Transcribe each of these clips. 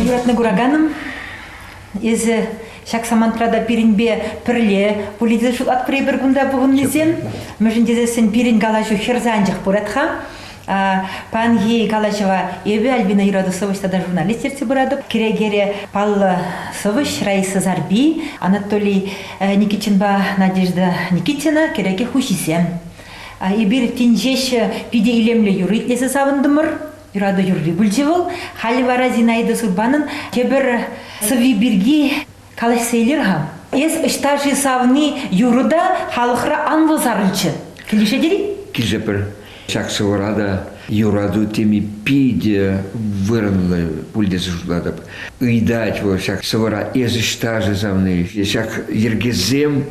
Юратнӑ кураканӑм, эсӗ ҫак самантра та пирӗнпе пӗрле пулин те шутлатпӑр эпир кунта пухӑннисем, мӗншӗн тесессӗн пирӗн калаҫу хӗр санчӑк пырать-ха. Паянхи калаҫӑва эпӗ Альбина юрату сӑвӑҫ тата журналист ертсе пыратӑп. Кӗрекере паллӑ сӑвӑҫ Раиса Зарби, Анатолий Никитинпа Надежда Никитина кӗреке хуҫисем. Эпир тин ҫеҫ питӗ илемлӗ юрӑ итлесе савӑнтӑмӑр. Юрату юрри пулчӗ вӑл. Халӗ вара Зинаида Сурбанӑн тепӗр сӑвви пирки калаҫса илер-ха. Эс ӑҫта-ши савни юрӑ та халӑхра анлӑ сарӑлчӗ. Килӗшет-и? Килӗшӗпӗр. Ҫак сӑвӑра та юрату теми питӗ вырӑнлӑ пуль тесе шутлатӑп. Ыйтать вӑл ҫак сӑвӑра эс ӑҫта-ши савни? Ҫак йӗркесем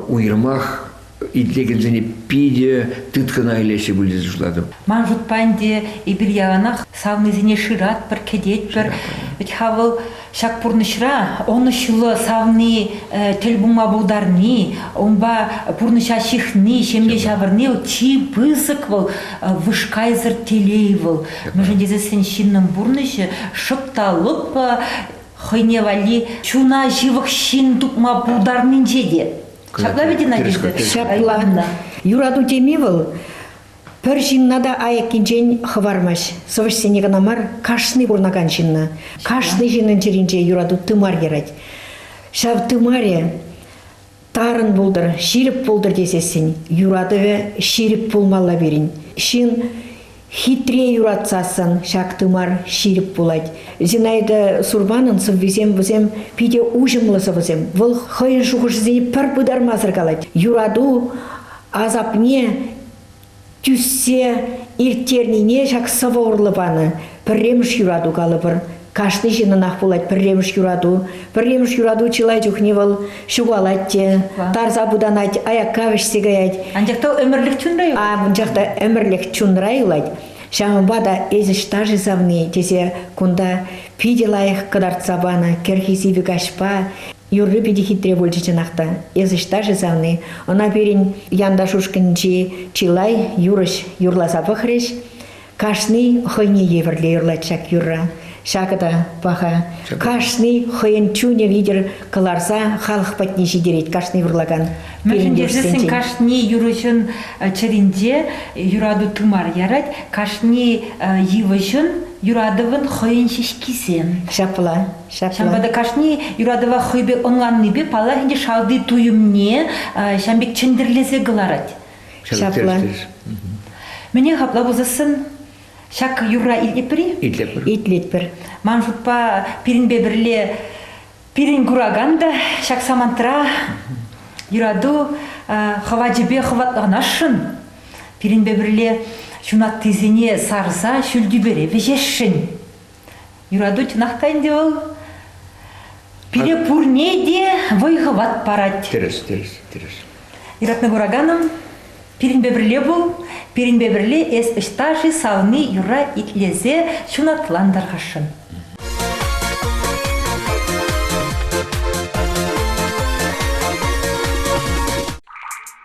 уйрӑмах итлекенсене питӗ тыткӑна илеҫҫӗ пуль тесе шутлатӑп. Ман шутпа ӗнтӗ эпир яланах савнисене шыратпӑр, кӗтетпӗр. Вӗт-ха вӑл Ҫак пурнӑҫра ӑнӑҫлӑ савни, тӗл пулма пултарни, унпа пурнӑҫа ҫыхни, ҫемье ҫавӑрни вӑл чи пысӑк вӑл вышкайсӑр телей вӑл. Мӗншӗн тесен ҫыннӑн пурнӑҫӗ шӑп та лӑпкӑ хӑйне валли чуна ҫывӑх ҫын тупма пултарнинче те. Ҫапла вӗт, Надежда? Ҫапла. Юрату теми вӑл Пӗр ҫынна та айӑккинчен хӑвармасть. Сӑвӑҫсене кӑна мар, кашни пурӑнакан ҫынна. Кашни ҫыннӑн чӗринче юрату тымар ярать. Ҫав тымарӗ тарӑн пултӑр, ҫирӗп пултӑр тесессӗн юратӑвӗ ҫирӗп пулмалла пирӗн. Ҫын хитре юратсассӑн ҫак тымар ҫирӗп пулать. Зинаида Сурбанӑн сӑввисем вӗсем питӗ уҫӑмлӑ сӑвӑсем. Вӑл хӑйӗн шухӑшӗсене пӗр пытармасӑр калать. Юрату асапне тӳссе ирттернине ҫак сӑвӑ урлӑ панӑ. Пӗрремӗш юрату калӑпӑр. Кашни ҫыннӑнах пулать пӗрремӗш юрату. Пӗрремӗш юрату чылай чухне вӑл ҫухалать те, тарса путанать, аякка вӗҫсе каять. Анчах та ӗмӗрлӗх чунра юлать. Анчах та ӗмӗрлӗх чунра юлать. Ҫавӑнпа та эсӗ ҫташӗ савни тесе кунта питӗ лайӑх кӑтартса панӑ кӗрхи сивӗ каҫпа Юрри питӗ хитре пулчӗ чӑнах та. Эс ӑҫта-ши, савни? Ӑна пирӗн янташ ушкӑнчи чылай юрӑҫ юрласа пӑхрӗҫ. Кашни хӑйне евӗрлӗ юрлать ҫак юрра. Ҫакӑ та паха. Кашни хӑйӗн чунӗ витӗр кӑларса халӑх патне ҫитерет кашни вурлакан Мӗншӗн тесен кашни юрӑҫӑн чӗринче юрату тымар ярать, кашни йывӑҫӑн, юратӑвӑн хӑйӗн ҫеҫкисем. Ҫапла. Ҫавӑнпа та кашни юратӑва хӑй пек ӑнланнипе паллах ӗнтӗ шалти туйӑмне ҫав пек чӗнтӗрлесе кӑларать. Ҫапла. Мӗне хапла пулсассӑн ҫак юрра итлетпӗр-и? Итлетпӗр. Итлетпӗр. Ман шутпа пирӗнпе пӗрле пирӗн куракан та ҫак самантра юрату хӑвачӗпе хӑватланасшӑн, пирӗнпе пӗрле ҫунаттисене сарса ҫӳл тӳпере вӗҫесшӗн. Юрату чӑнах та ӗнтӗ вӑл. Пире пурне те вӑй-хӑват парать. Тӗрӗс, тӗрӗс, тӗрӗс. Юратнӑ кураканӑм, пирӗнпе пӗрле пул, пирӗнпе пӗрле эс ӑҫта-ши савни юрра итлесе ҫунатлантарасшӑн.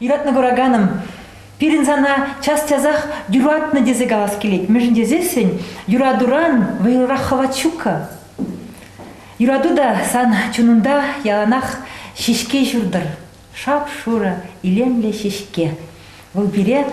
Юратнӑ кураканӑм, пирӗн сана час-часах юратнӑ тесе калас килет. Мӗншӗн тесессӗн юратуран вӑйлӑрах хӑват ҫук-ха. Юрату та сан чунунта яланах ҫеҫке ҫуртӑр. Шап-шурӑ, илемлӗ ҫеҫке. Вӑл пире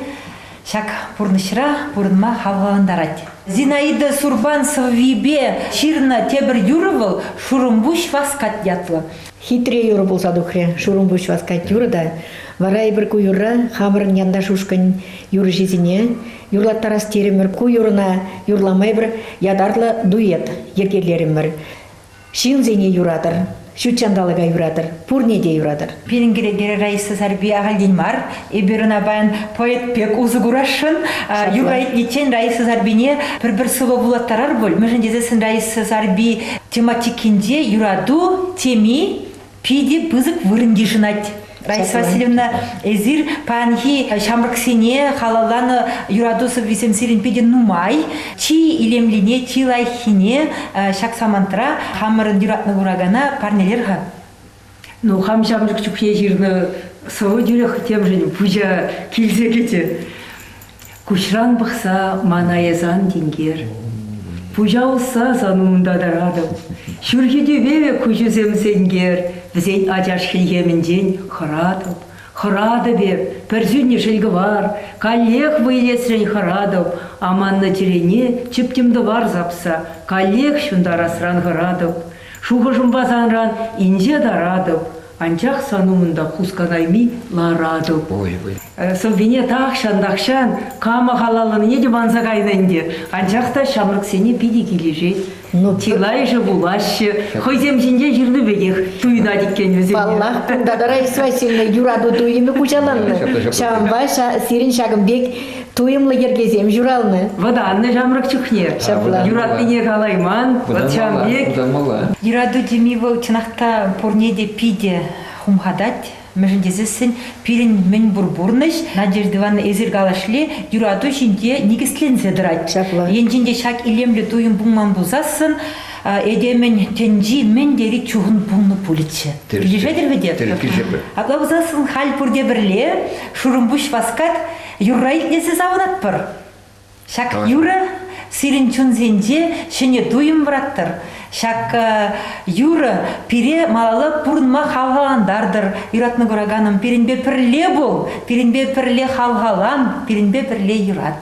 ҫак пурнӑҫра пурӑнма хавхалантарать. Зинаида Сурбан сӑввипе ҫырнӑ тепӗр юрӑ вӑл, Шурӑмпуҫ васкать ятлӑ. Хитре юрӑ пулса тухрӗ Шурӑмпуҫ васкать юрӑ та. Вара эпир ку юрра хамӑрӑн янташ ушкӑн юрӑҫисене юрлаттарас терӗмӗр. Ку юрӑна юрлама эпир ятарлӑ дуэт йӗркелерӗмӗр. Ҫынсене юратӑр, ҫут ҫанталӑка юратӑр, пурне те юратӑр. Пирӗн кӗнекере Раиса Сарпи ахальтен мар, эпир ӑна паян поэт пек усӑ курасшӑн. Юрра итличчен Раиса Сарпине пӗр-пӗр сӑвӑ вулаттарар пуль, мӗншӗн тесессӗн Раиса Сарпи тематикинче юрату теми Питӗ пысӑк вырӑн йышӑнать. Раиса Васильевна, эсир паянхи ҫамрӑксене халалланӑ юрату сӑввисем сирӗн питӗ нумай. Чи илемлине, чи лайӑххине ҫак самантра хамӑрӑн юратнӑ куракана парнелер-ха. Ну, хам ҫамрӑк чухне ҫырнӑ сӑвӑ тӳрех темшӗн пуҫа килсе кӗчӗ. Куҫран пӑхса ман эс ан тинкер. Пуҫа усса сан умунта тӑратӑп. Ҫурхи тӳпеве куҫусем сенкер, Вӗсен ачаш хӗлхемӗнчен хӑратӑп. Хӑратӑп эп, пӗр сӳннӗ шелкӑвар, Каллех вӑй илесрен хӑратӑп. Аманнӑ чӗрене чӗптӗм-тӑвар сапса, Каллех ҫунтарасран хӑратӑп. Шухӑшӑмпа санран инҫе таратӑп. Анчах сан умӑнта хусканайми ларатӑп. Ой-ой. Сӑввине тахҫан-тахҫан кама халалланине те манса кайнӑ ӗнтӗ, анчах та ҫамрӑксене питӗ килӗшет. Ну, чылайӑшӗ вулаҫҫӗ, хӑйсем ҫинчен ҫырнӑ пекех туйӑнать иккен вӗсене. Паллах, кунта та Раиса Васильевна юрату туйӑмӗ хуҫаланнӑ. Ҫавӑнпа сирӗн ҫакӑн пек туйӑмлӑ йӗркесем ҫуралнӑ. Вӑтаннӑ ҫамрӑк чухне. Ҫапла. Юратнине калайман, вӑт ҫавӑн пек. Вӑтанмалла. Юрату теми вӑл чӑнах та пурне те питӗ хумхатать. Мӗншӗн тесессӗн пирӗн мӗн пур пурнӑҫ, Надежда Ивановна, эсир калашле, юрату ҫинче никӗсленсе тӑрать. Ҫапла. Енчен те ҫак илемлӗ туйӑм пулман пулсассӑн, этемӗн тӗнчи мӗн тери чухӑн пулнӑ пулӗччӗ. Тӗркишетӗр-ха те? Тӗркишӗпӗр. Апла пулсассӑн халь пурте пӗрле, Шурӑмпуҫ васкать, Юрра итлесе савӑратпӑр. Ҫак юрӑ сирӗн чунсенче ҫӗнӗ туйӑм выраттӑр. Ҫак юрӑ пире малалла пурӑнма хавхалантартӑр. Юратнӑ кураканӑм, пирӗнпе пӗрле пул, пирӗнпе пӗрле хавхалан, пирӗнпе пӗрле юрат.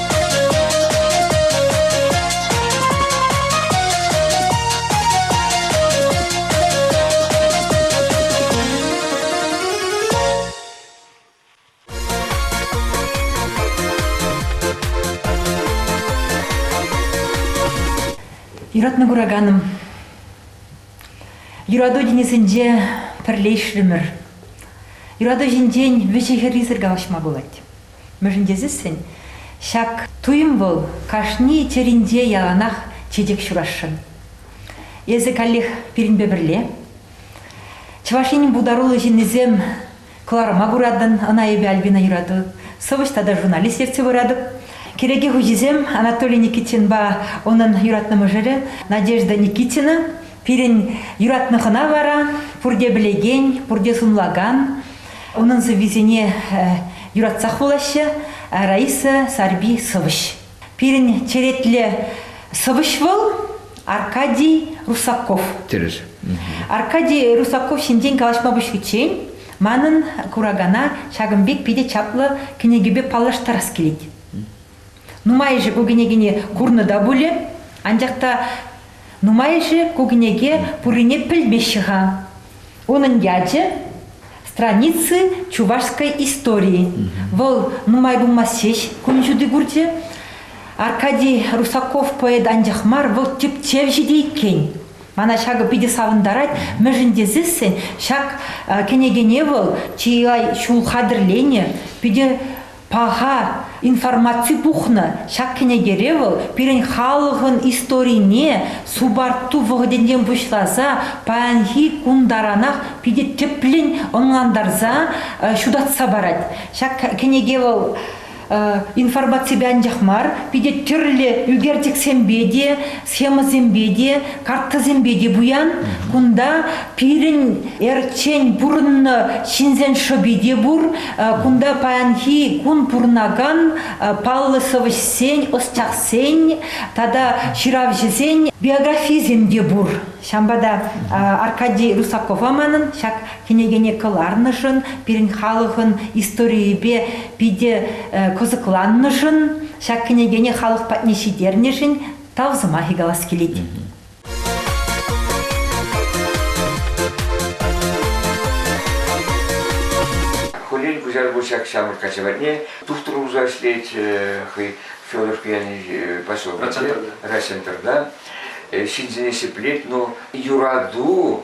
Юратнӑ кураканӑм, юрату тинӗсӗнче пӗрле ӗҫлӗмӗр. Юрату ҫинчен вӗҫӗ-хӗррисӗр калаҫма пулать. Мӗншӗн тесессӗн ҫак туйӑм вӑл кашни чӗринче яланах чечек ҫурасшӑн. Эсӗ каллех пирӗнпе пӗрле. Чӑваш Енӗн пултаруллӑ ҫыннисем кӑларӑма куратӑн, ӑна эпӗ Альбина юрату, сӑвӑҫ тата журналист ертсе пыратӑп. Кӗреке хуҫисем Анатолий Никитинпа унӑн юратнӑ мӑшӑрӗ Надежда Никитина Пирӗн юратнӑ хӑна вара пурте пӗлекен, пурте сумлакан. Унӑн сӑввисене юратсах вулаҫҫӗ Раиса Сарпи сӑвӑҫ. Пирӗн черетлӗ сӑвӑҫ вӑл Аркадий Русаков. Тӗрӗс. Аркадий Русаков ҫинчен калаҫма пуҫличчен манӑн куракана ҫакӑн пек питӗ чаплӑ кӗнекепе паллаштарас килет. Нумайӑшӗ ку кӗнекене курнӑ та пулӗ, анчах та нумайӑшӗ ку кӗнеке пуррине пӗлмеҫҫӗ-ха. Унӑн ячӗ страницы чувашской истории. Вӑл нумай пулмасть ҫеҫ кун ҫути курчӗ. Аркадий Русаков поэт анчах мар, вӑл тӗпчевҫӗ те иккен. Мана ҫакӑ питӗ савӑнтарать, мӗншӗн тесессӗн ҫак кӗнекене вӑл чылай ҫул хатӗрленӗ, питӗ Паха информаци пухнӑ ҫак кӗнекере вӑл пирӗн халӑхӑн историне субарту вӑхӑтӗнчен пуҫласа паянхи кун таранах питӗ тӗплӗн ӑнлантарса ҫутатса парать. Ҫак кӗнеке вӑл информаципе анчах мар, питӗ тӗрлӗ ӳкерчӗксемпе те схемӑсемпе те, карттӑсемпе те пуян. Кунта пирӗн эрчен пурӑннӑ ҫынсен шӑпи те пур. Кунта паянхи кун пурӑнакан паллӑ сӑвӑҫсен, ӑсчахсен тата ҫыравҫӑсен биографийӗсем те пур. Ҫавӑнпа та Аркадий Русакова манӑн ҫак кӗнекене кӑларнӑшӑн, пирӗн халӑхӑн историйӗпе питӗ кӑсӑкланнӑшӑн, ҫак кӗнекене халӑх патне ҫитернӗшӗн тав сӑмахӗ калас килет. Хулин куҫарку ҫак ҫамрӑк качаватне тухтӑр улса ӗҫлет хӑй Федоровка яни поселокӗнче, Райцентрта. Ҫынсене ҫӗклет, но юрату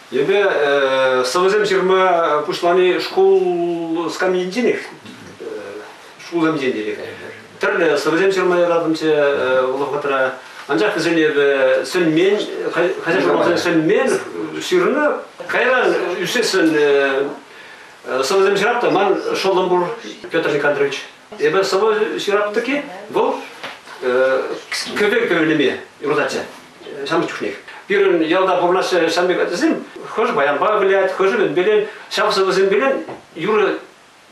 Эпӗ сӑвӑсем ҫырма пуҫлани шкул скамьинченех, шкулсенчен те Тӗрлӗ сӑвӑсем ҫырма яратӑмччӗ вӑл вӑхӑтра. Анчах вӗсен эпӗ сӗнмен, хозяйствӑсен сӗнмен, ҫырнӑ. Кайран ӳссессӗн сӑвӑсем ҫырап та ман шӑллӑм пур, Петр Никандрович. Эпӗ сӑвӑ ҫырап-тӑки вӑл кӗпе кӗвӗлеме юрататчӗ. самых чухних. Пирӗн ялта пурӑнаҫҫӗ ҫан пек ачасем хӑш баянпа вылять, хӑш ӗмӗтпелен, ҫав сӑвӑсемпелен юрӑ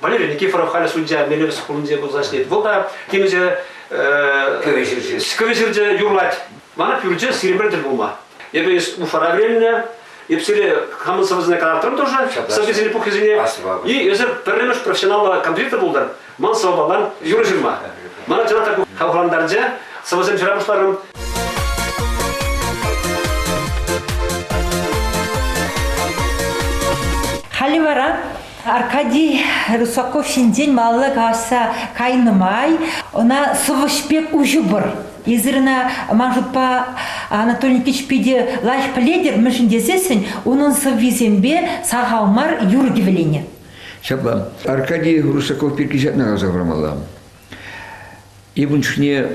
Валерий Никифоров халӗ судья мелӗпе шкулӗнче пулса ӗҫлет. Вӑл та темиҫе кӗвӗ кӗвӗ ҫырчӗ юрлать. Мана пӳрче сирӗмрен тӗл пулма. Эпӗ Уфара вӗреннӗ, эп сире хамӑн сӑвӑсене калартрӑм тоже, сӑввисене пуххисене. И эсир пӗрремӗш профессионаллӑ композитор пултӑр. Ман сӑвӑпала юрӑ ҫырма. Мана чӑнах та хавхалантарчӗ. Сӑвӑсем ҫыра пуҫларӑм. Халӗ вара Аркадий Русаков ҫинчен малалла калаҫса кайнӑ май ӑна сӑвӑҫ пек уҫӑпӑр. Эсир ӑна, ман шутпа, Анатолий Никитич питӗ лаҫ пӗлетӗр, мӗншӗн тесессӗн унӑн сӑввисемпе сахал мар юрӑ кӗвӗленӗ. Ҫапла, Аркадий Русаков пирки ҫакна каласа хӑвармалла. Эпун чухне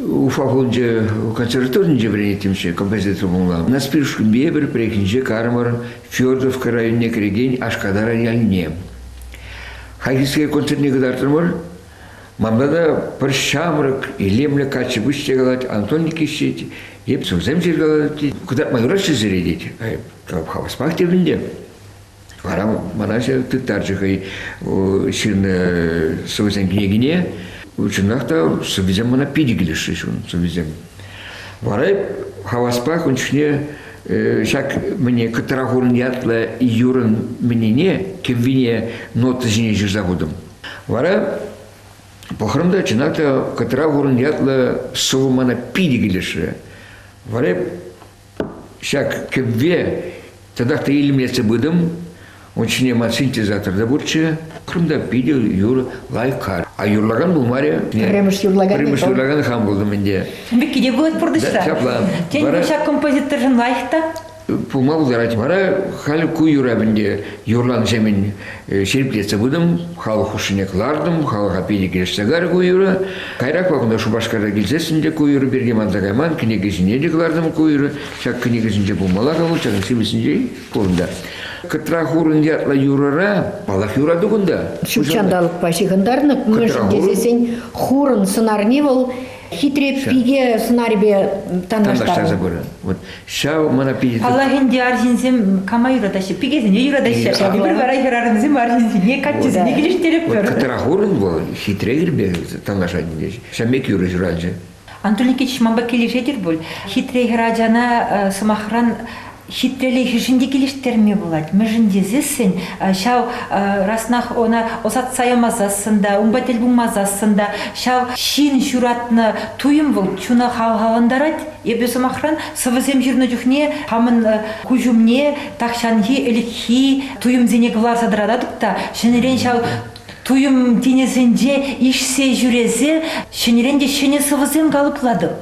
Уфа хулинче консерваторинче вӗренеттӗмччӗ, композитор пулмалла. Наспиршкинпе предприятинче кармӑр Федоровка районне кӗрекен Ашкадар ялне. Хайхискер концертне кӑтартрӑмӑр. Манта та пӗр ҫамрӑк, илемлӗ каччӑ пуҫ те калать, Антон Никитич тет, эп сӑвсем ҫыркалатать, кӑтартма юраҫҫӗ сире тет. Хаваспах тет ӗнтӗ. Вара мана тыттарчӗ хӑй ҫырнӑ сӑвӑсен кӗнекине. Чӑнах та сӑввисем мана питӗ килӗшрӗҫ ун сӑввисем. Вара хаваспах ун чухне ҫак мӗне Кӑтра ятлӑ юрӑн мӗнене, кӗввине нота ҫине ҫырса хутӑм. Вара пӑхрӑм та, чӑнах та Кӑтра ятлӑ сӑвӑ мана питӗ килӗшрӗ. Вара Ҫак кӗвве татах та илмессе пытӑм. Ун ҫине ман синтезатор та пурччӗ. Кунта питӗ юр лайкар. А юрлакан пулмарӗ. Пӗрремӗш юрлакан. Пӗрремӗш юрлакан хам пултӑм ӗнтӗ. Мекке пулать пурнӑҫра. Ҫапла. Тен, ҫак композиторшӑн лайӑх та? Пулма пултарать. Вара халь ку юрап ӗнтӗ юрланӑ ҫемӗн ҫирӗплетсе пытӑм, халӑх хушшине кӑлартӑм, халӑха питӗ килӗшсе карӗ ку юрӑ. Кайрак вакунта Шупашкарта килсессӗн те ку юрӑ пирки манса кайман, кӗнекесене те кӑлартӑм ку юрӑ. Ҫак кӗнекесенче пулмалла калу, ҫакӑн сивӗсенче пурӑнта. Кӑтра хурӑн ятлӑ юрӑра паллах юрату кунта. Ҫут ҫанталӑкпа ҫыхӑнтарнӑ, мӗншӗн тесессен хурӑн сӑнарне вӑл хитре пике сӑнарӗпе танлаштарнӑ. Танлаштарса пырӑн. Вот Ҫав мана питӗ... Паллах ӗнтӗ арҫынсем кама юратаҫҫӗ? Пикесене юратаҫҫӗ. Эпир вара хӗрарӑмсем арҫынсене, каччӑсене килӗштеретпӗр. Кӑтра хурӑн вӑл, хитре юрпе танлашать Ҫав пек юрӑ ҫуралчӗ. Антон Никитич манпа килӗшетӗр пуль. Хитре хӗр ачана, сӑмахран, хитрелӗхӗшӗн те килӗштерме пулать. Мӗншӗн тесессӗн ҫав раснах ӑна ӑсатса ямасассӑн та, унпа тӗл пулмасассӑн та ҫав ҫын ҫуратнӑ туйӑм вӑл чуна хавхалантарать. Эпӗ, сӑмахран, сӑвӑсем ҫырнӑ чухне хамӑн куҫ умне тахҫанхи ӗлӗкхи туйӑмсене кӑларса тӑрататӑп та ҫӗнӗрен ҫав туйӑм тинӗсӗнче ишсе ҫӳресе ҫӗнӗрен те ҫӗнӗ сӑвӑсем калӑплатӑп.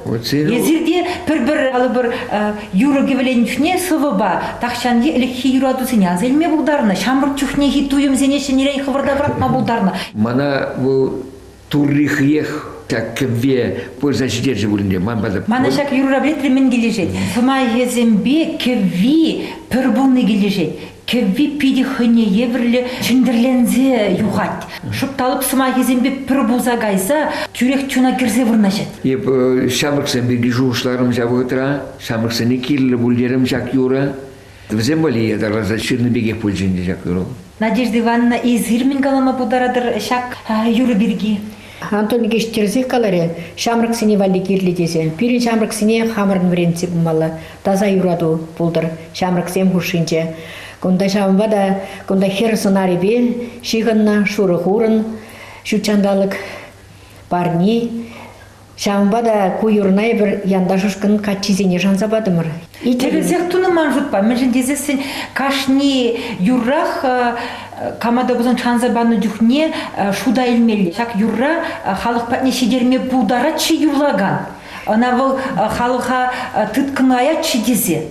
Эсир те пӗр-пӗр калӑпӑр юрӑ-кӗвӗленӗ чухне сӑвӑпа тахҫанхи ӗлӗкхи юратусене аса илме пултарнӑ, ҫамрӑк чухнехи туйӑмсене ҫӗнӗрен хӑвӑрта пӑрахма пултарнӑ. Мана вӑл Турри хӑех так кӗвве пырса ҫитерчӗ пулин те ман пата... Мана ҫак юрра пӗлетре мӗн килӗшет? Сӑмахӗсемпе кӗвви пӗр пулни килӗшет. Кӗвви питӗ хӑйне евӗрлӗ чӗнтӗрленсе юхать. Шӑпталӑп сӑмахӗсемпе пӗр пулса кайса тӳрех чуна кӗрсе вырнаҫать. Эп ҫамрӑксем пирки шухӑшларӑм ҫав вӑхӑтра. Ҫамрӑксене кирлӗ пуль терӗм ҫак юра. Вӗсем валли ятарласа ҫырнӑ пекех пулчӗ ӗнтӗ ҫак ӑру. Надежда Ивановна, эсир мӗн калама пултаратӑр ҫак юрӑ пирки? Антон Викеевич тӗрӗсех каларӗ, ҫамрӑксене валли кирлӗ тесе. Пирӗн ҫамрӑксене хамӑрӑн вӗрентсе пымалла, таса юрату пултӑр ҫамрӑксем хушшинче. Кунта ҫавӑнпа та кунта хӗр сӑнарӗпе ҫыхӑннӑ шурӑ хурӑн, ҫутҫанталӑк парни, Ҫавӑнпа та ку юрӑна эпир янташӑшкӑн каччисене шанса патӑмӑр. Тӗрӗсех тунӑ ман шутпа, мӗншӗн тесессӗн кашни юррах команда пулсан шанса панӑ чухне шута илмелле. Ҫак юрра халӑх патне ҫитерме пултарать-ши юрлакан? Ӑна вӑл халӑха тыткӑнлаять-ши тесе.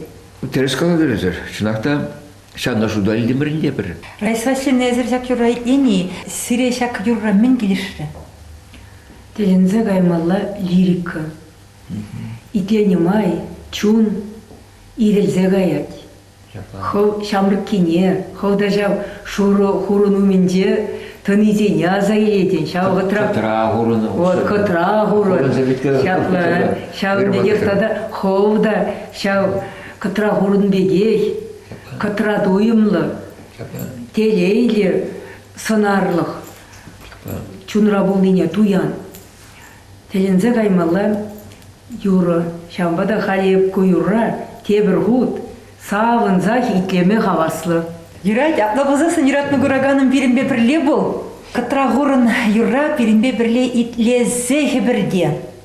Тӗрӗс калатӑр, чӑнах та Ҫанӑшу та илтӗмӗрӗн те пӗр. Райсваҫҫинесӗр ҫак юрра итлени сире ҫак юрра мӗн килӗшрӗ? Тӗлӗнсе каймалла лирика. Итленӗ май чун ирӗлсе каять. Хӑв ҫамрӑккине, хӑв та ҫав шурӑ хурӑн умӗнче тӑнисене аса илетӗн, ҫав вӑтра... Кӑтра хурӑн. Вот кӑтра хурӑн. Ҫапла, ҫав пекех тата хӑв та ҫав Кӑтра хурӑн пекех, кӑтра туйӑмлӑ, телейлӗ, сӑнарлӑх, чунра пулнине туян. Тӗлӗнсе каймалла юрӑ. Ҫавӑнпа та халь эп ку юрра тепӗр хут савӑнсах итлеме хаваслӑ. Юрать, апла пулсассӑн юратнӑ кураканӑм пирӗнпе пӗрле пул. Кӑтра хурӑн юрра пирӗнпе пӗрле итлесе хӗпӗрте.